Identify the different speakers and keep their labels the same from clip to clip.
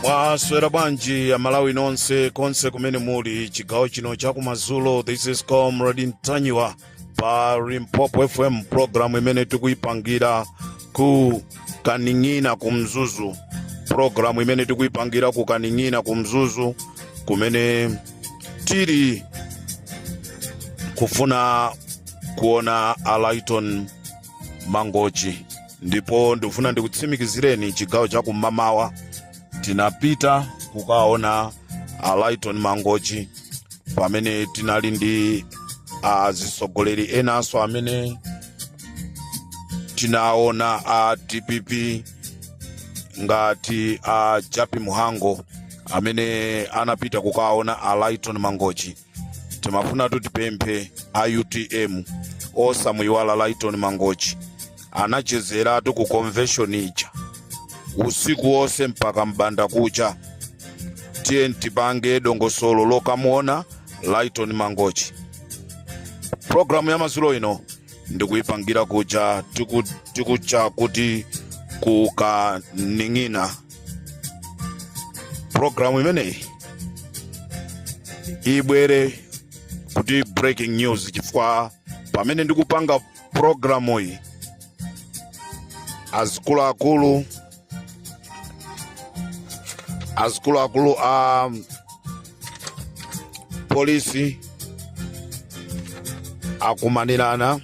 Speaker 1: mwaswera bwanji amalawi nonse konse kumene muli chigawo chino chakumadzulo this is comrade ntanyiwa pa limpopo fm programu imene tikuyipangira ku kaning'ina ku mzuzu programu imene tikuyipangira ku kaning'ina ku mzuzu kumene tili kufuna kuona a laiton mangochi ndipo ndikufuna ndikutsimikizireni chigawo cha kumamawa tinapita kukaona a laiton mangochi pamene tinali ndi azitsogoleri enanso amene tinaona a dpp ngati a jappie mhango amene anapita kukaona a laiton mangochi timafuna kuti tipemphe a utm osamuyiwala laiton mangochi anachezeratu ku convention ija usiku wonse mpaka mbanda kucha tiye tipange dongosolo lokamuona laiton mangochi programu ya madzulo ino ndikuyipangira kuja tiku- tikucha kuti kukaning'ina programu imeneyi ibwere kuti breaking news chifukwa pamene ndikupanga programu iyi azikuluakulu azikuluakulu a um, polisi akumanirana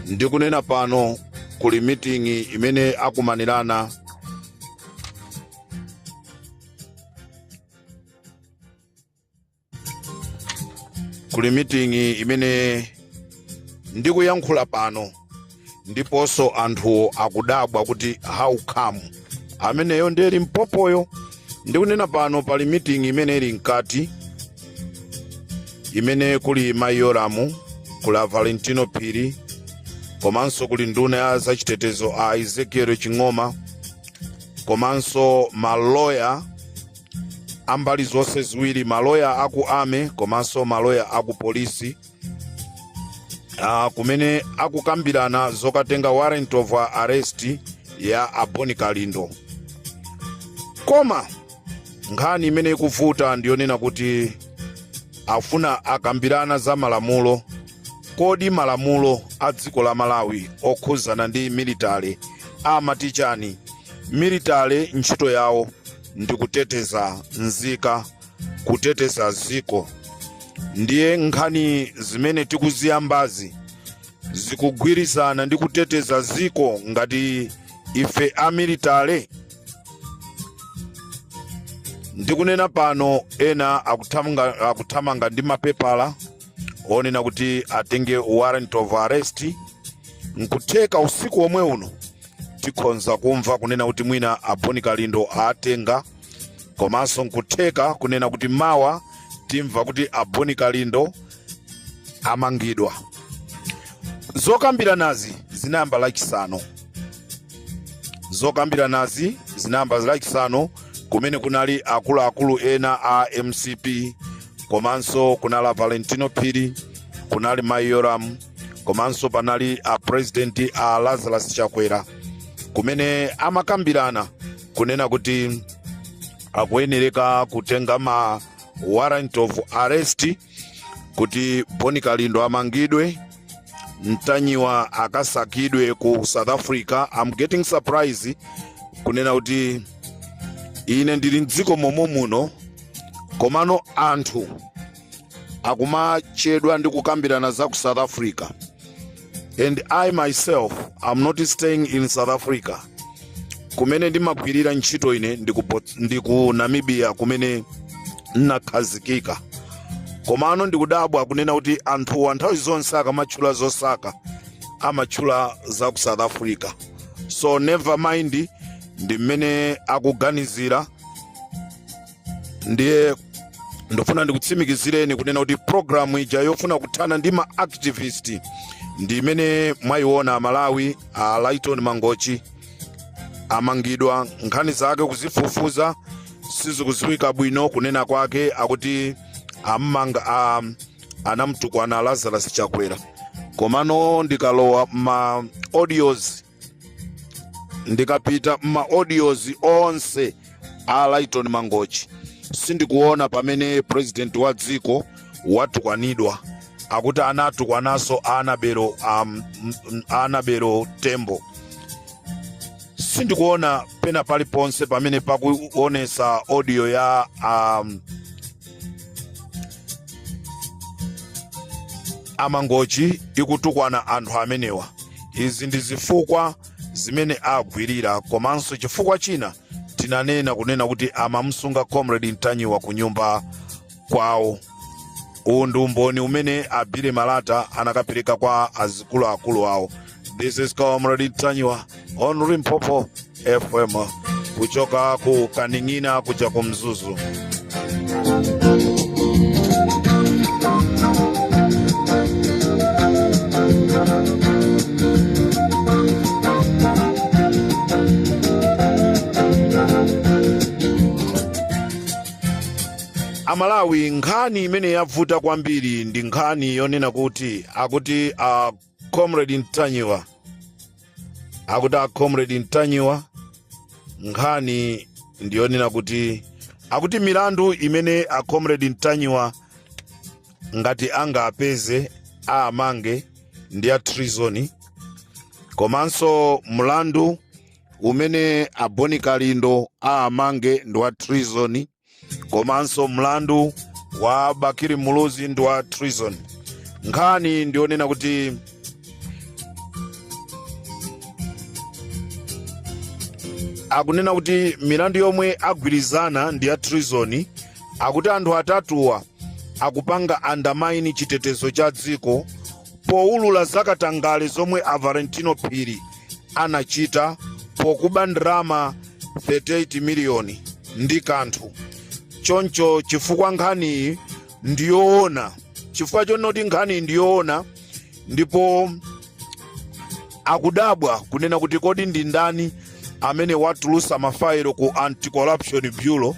Speaker 1: ndikunena pano kuli miting'i imene akumanirana kuli meeting imene ndikuyankhula pano ndiponso anthuwo akudabwa kuti how come ameneyo ndiye limpopoyo ndikunena pano pali meeting imene ili mkati imene kuli mayi yolamu kuli a valentino phiri komanso kuli nduna ya zachitetezo a ezekiel ching'oma komanso maloya ambali zonse ziwiri maloya aku army komanso maloya aku polisi ah, kumene akukambirana zokatenga warrant of arrest ya a bon kalindo koma nkhani imene ikuvuta ndiyonena kuti afuna akambirana za malamulo kodi malamulo a dziko la malawi okhuzana ndi military amati chani military ntchito yawo ndi kuteteza nzika kuteteza dziko ndiye nkhani zimene tikuziyambazi zikugwirizana ndi kuteteza dziko ngati ife amilitale ndikunena pano ena akuthamanga ndi mapepala onena kuti atenge warrant of arrest nkutheka usiku omwe uno tikhonza kumva kunena kuti mwina aboni kalindo atenga komanso nkutheka kunena kuti mawa timva kuti aboni kalindo amangidwa zokambiranazi zinayamba lachisanu zokambiranazi zinayamba lachisanu kumene kunali akuluakulu ena a mcp komanso kunali valentino phiri kunali mai yoram komanso panali a president a lazarus chakwera kumene amakambirana kunena kuti akuyenereka kutenga ma warrant of arrest kuti boni kalindo amangidwe mtanyiwa akasakidwe ku south africa am getting surprise kunena kuti ine ndili mdziko momwe muno komano anthu akumachedwa ndi kukambirana za ku south africa and i myself am not staying in south africa kumene ndimagwirira ntchito ine ndi ku namibia kumene nnakhazikika komano ndikudabwa kunena kuti anthuwa nthawi zonse akamatchula zosaka amatchula za ku south africa so never mind ndi mmene akuganizira ndiye ndofuna ndikutsimikizireni kunena kuti programu ija yofuna kuthana ndi ma activist ndi imene mwayiona amalawi a lighton mangochi amangidwa nkhani zake kuzifufuza sizikuziwika bwino kunena kwake akuti ammanga a, anamtukwana lazarus chakwera komano ndikalowa ma audios ndikapita m'maodiozi onse a lighton mangochi sindikuona pamene president wa dziko watukwanidwa akuti anatukwananso anabelo tembo sindikuona pena paliponse pamene pakuonesa audio ya um, amangochi ikutukwana anthu amenewa izi ndi zifukwa zimene agwirira komanso chifukwa china tinanena kunena kuti amamsunga comrade ntanyiwa ku nyumba kwawo uwu ndi umboni umene a bile malata anakapereka kwa azikuluakulu awo This is Comrade Ntanyiwa on Limpopo FM kuchoka ku Kaning'ina kuja ku Mzuzu. Amalawi nkhani imene yavuta kwambiri ndi nkhani yonena kuti akuti a comrade ntanyiwa akuti a comrade ntanyiwa nkhani ndiyonena kuti akuti milandu imene a comrade ntanyiwa ngati angawapeze awamange ndi ya treason komanso mlandu umene a boni kalindo awamange ndi wa treason komanso mlandu wa bakili muluzi ndi wa treason nkhani ndiyonena kuti akunena kuti milandu yomwe agwirizana ndi ya treason akuti anthu atatuwa akupanga undermine chitetezo cha dziko poulula zakatangale zomwe a valentino phiri anachita pokuba ndalama 38 miliyoni ndi kanthu choncho chifukwa nkhaniyi ndiyoona chifukwa chonoti nkhaniyi ndiyoona ndipo akudabwa kunena kuti kodi ndi ndani amene watulusa mafayilo ku anti-corruption bureau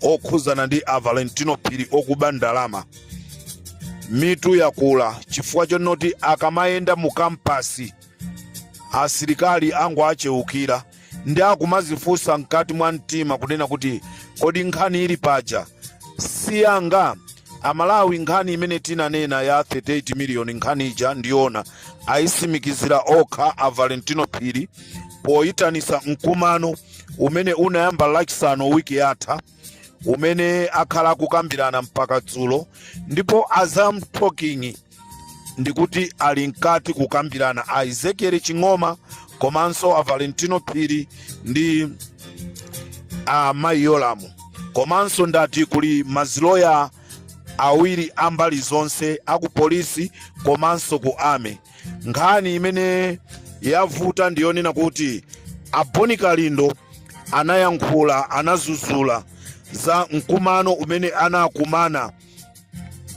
Speaker 1: okhudzana ndi a valentino phiri okuba ndalama mitu yakula chifukwa chonoti akamayenda mu kampasi asilikali angu acheukira ndiye akumadzifunsa mkati mwa mtima kunena kuti kodi nkhani ili paja siyanga amalawi nkhani imene tinanena ya 38 miliyoni nkhani ija ndiyoona ayisimikizira okha a valentino phiri poyitanisa mkumano umene unayamba lachisanu wiki yatha umene akhala kukambirana mpaka dzulo ndipo as I'm talking ndikuti ali mkati kukambirana a ezekiel ching'oma komanso a valentino phiri ndi a mayi yolamu komanso ndati kuli maziloya awiri ambali zonse aku polisi komanso ku army nkhani imene yavuta ndiyonena kuti a boni kalindo anayankhula anadzudzula za mkumano umene anakumana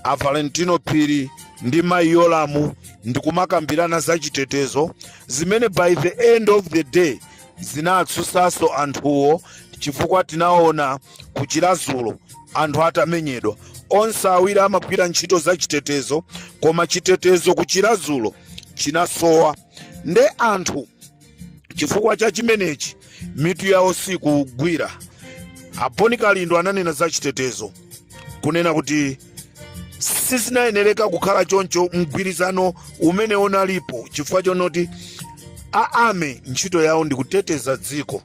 Speaker 1: a valentino phiri ndi mayi yolamu ndikumakambirana za chitetezo zimene by the end of the day zinawatsutsanso anthuwo chifukwa tinaona ku Chiradzulu anthu atamenyedwa. Onse awiri amagwira ntchito za chitetezo koma chitetezo ku Chiradzulu chinasowa nde anthu chifukwa cha chimenechi mitu yawo sikugwira. A Bon Kalindo ananena za chitetezo kunena kuti sizinayenereka kukhala choncho mgwirizano umene unalipo chifukwa chonoti a army ntchito yawo ndi kuteteza dziko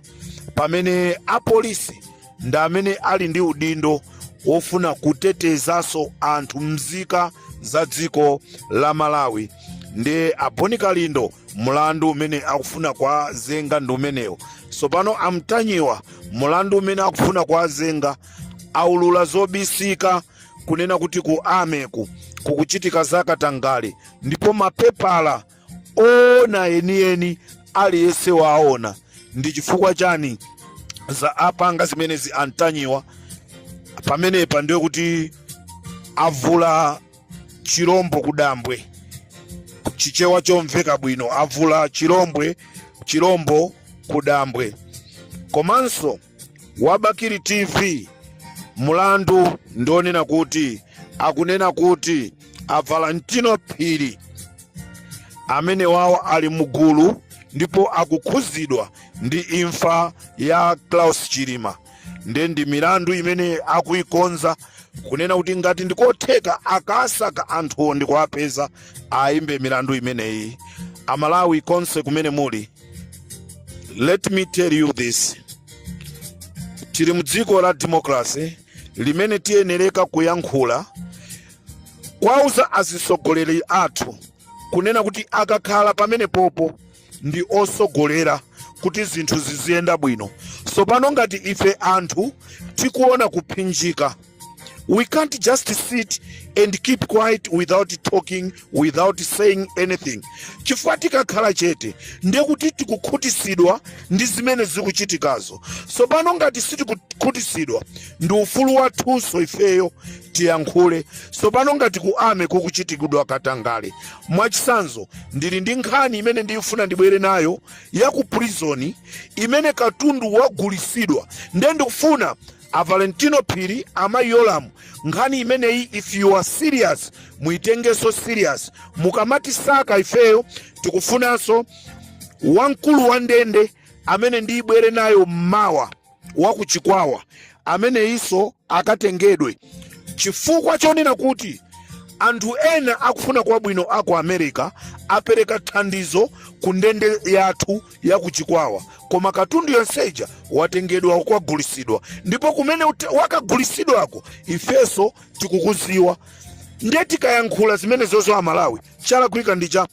Speaker 1: pamene apolisi ndi amene ali ndi udindo wofuna kutetezanso anthu mzika za dziko la malawi ndiye a bon kalindo mulandu umene akufuna kuwazenga ndi umenewo tsopano a ntanyiwa mulandu umene akufuna kuwazenga aulula zobisika kunena kuti ku army ku kukuchitika zakatangale ndipo mapepala oona enieni aliyense waona ndi chifukwa chani za apanga zimenezi a ntanyiwa pamenepa ndiye kuti avula chilombo kudambwe chichewa chomveka bwino avula chilombwe chilombo kudambwe komanso wa bakili tv mulandu ndi wonena kuti akunena kuti a valentino phiri amenewawo ali mugulu ndipo akukhuzidwa ndi imfa ya klaus chilima nde ndi milandu imene akuikonza kunena kuti ngati ndi kotheka akasaka anthuwo ndikuwapeza awayimbe milandu imeneyi amalawi konse kumene muli let me tell you this tili mu dziko la democracy limene tiyenereka kuyankhula kuwauza azitsogoleri athu kunena kuti akakhala pamenepopo ndi otsogolera kuti zinthu ziziyenda bwino tsopano ngati ife anthu tikuona kuphinjika We can't just sit and keep quiet without talking, without saying anything. Chifukwa tikakhala chete ndiye kuti tikukhutisidwa ndi zimene zikuchitikazo. Tsopano ngati sitikukhutisidwa ndi ufulu wathunso ifeyo tiyankhule. Tsopano ngati ku army kukuchitikidwa katangale. Mwachitsanzo ndili ndi nkhani imene ndikufuna ndibwere nayo ya ku prison imene katundu wagulisidwa ndiye ndikufuna a valentino phiri amayi yolamu nkhani imeneyi if you are serious muitengenso serious mukamatisaka ifeyo tikufunanso wamkulu wa ndende imene ndibwere nayo mmawa wa ku chikwawa ameneyinso akatengedwe chifukwa chonena kuti anthu ena akufuna kwabwino aku america apereka thandizo ku ndende yathu ya ku Chikwawa, koma katundu yonse ija watengedwa wakagulisidwa, ndipo kumene wakagulisidwako ifeso tikukuziwa. Ndiye tikayankhula zimenezozo Amalawi, chalakwika ndi cha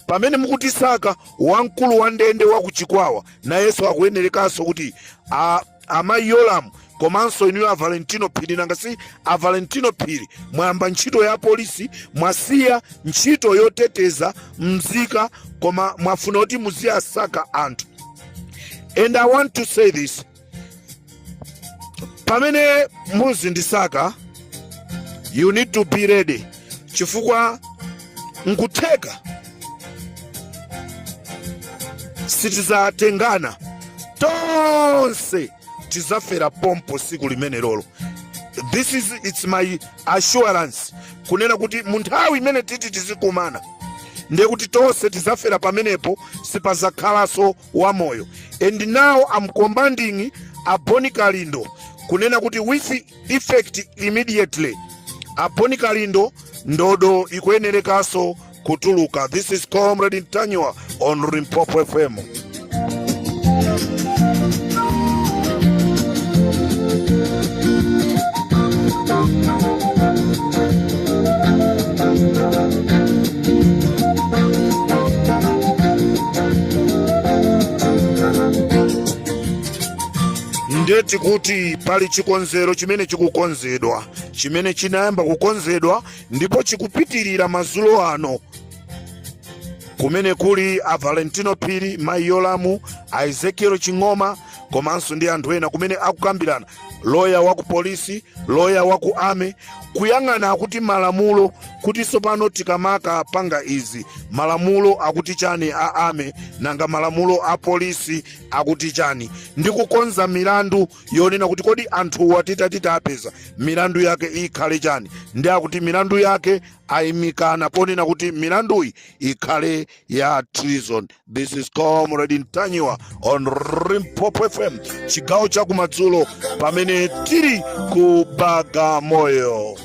Speaker 1: pamene mukutisaka wamkulu wa ndende wa ku Chikwawa nayenso akuyenerekanso kuti a- amayi Yolamu komanso inuyo a valentino phiri nanga si a valentino phiri mwayamba ntchito ya polisi mwasiya ntchito yoteteza mzika koma mwafuna kuti muziyasaka anthu and i want to say this pamene muzindisaka you need to be ready chifukwa nkutheka sitizatengana tonse tizafera pompo siku limenelolo this is it's my assurance kunena kuti munthawi imene titi tizikumana ndiye kuti tonse tizafera pamenepo sipazakhalanso wamoyo and now I'm commanding a Bon Kalindo kunena kuti with effect immediately a Bon Kalindo ndodo ikuyenerekanso kutuluka this is comrade Ntanyiwa on Limpopo FM ndeti kuti pali chikonzero chimene chikukonzedwa chimene chinayamba kukonzedwa ndipo chikupitirira madzulo ano kumene kuli a valentino phiri mayi yolamu a ezekiel ching'oma komanso ndi anthu ena kumene akukambirana loya wa ku polisi loya wa ku ame kuyang'ana kuti malamulo kuti tsopano tikamakapanga izi malamulo akuti chani a ame nanga malamulo a polisi akuti chani ndi kukonza milandu yonena kuti kodi anthuwa titati tawapeza milandu yake ikhale chani ndi akuti milandu yake ayimikana ponena kuti milanduyi ikhale ya treason this is comrade ntanyiwa on Limpopo fm chigawo cha kumadzulo pamene tili ku bagamoyo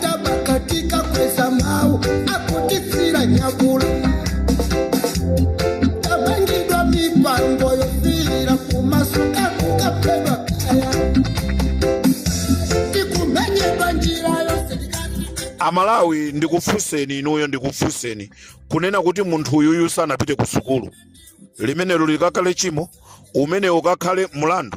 Speaker 1: tabakatika kweza mau akutitsira nyakula tabangidwa mipango yofira kumasuka kukapedwa kaya tikumenyedwa njira yose tikati amalawi ndikufunseni inuyo ndikufunseni kunena kuti munthu uyuyu sanapite ku sukulu limenelo likakhale chimo umene ukakhale mlandu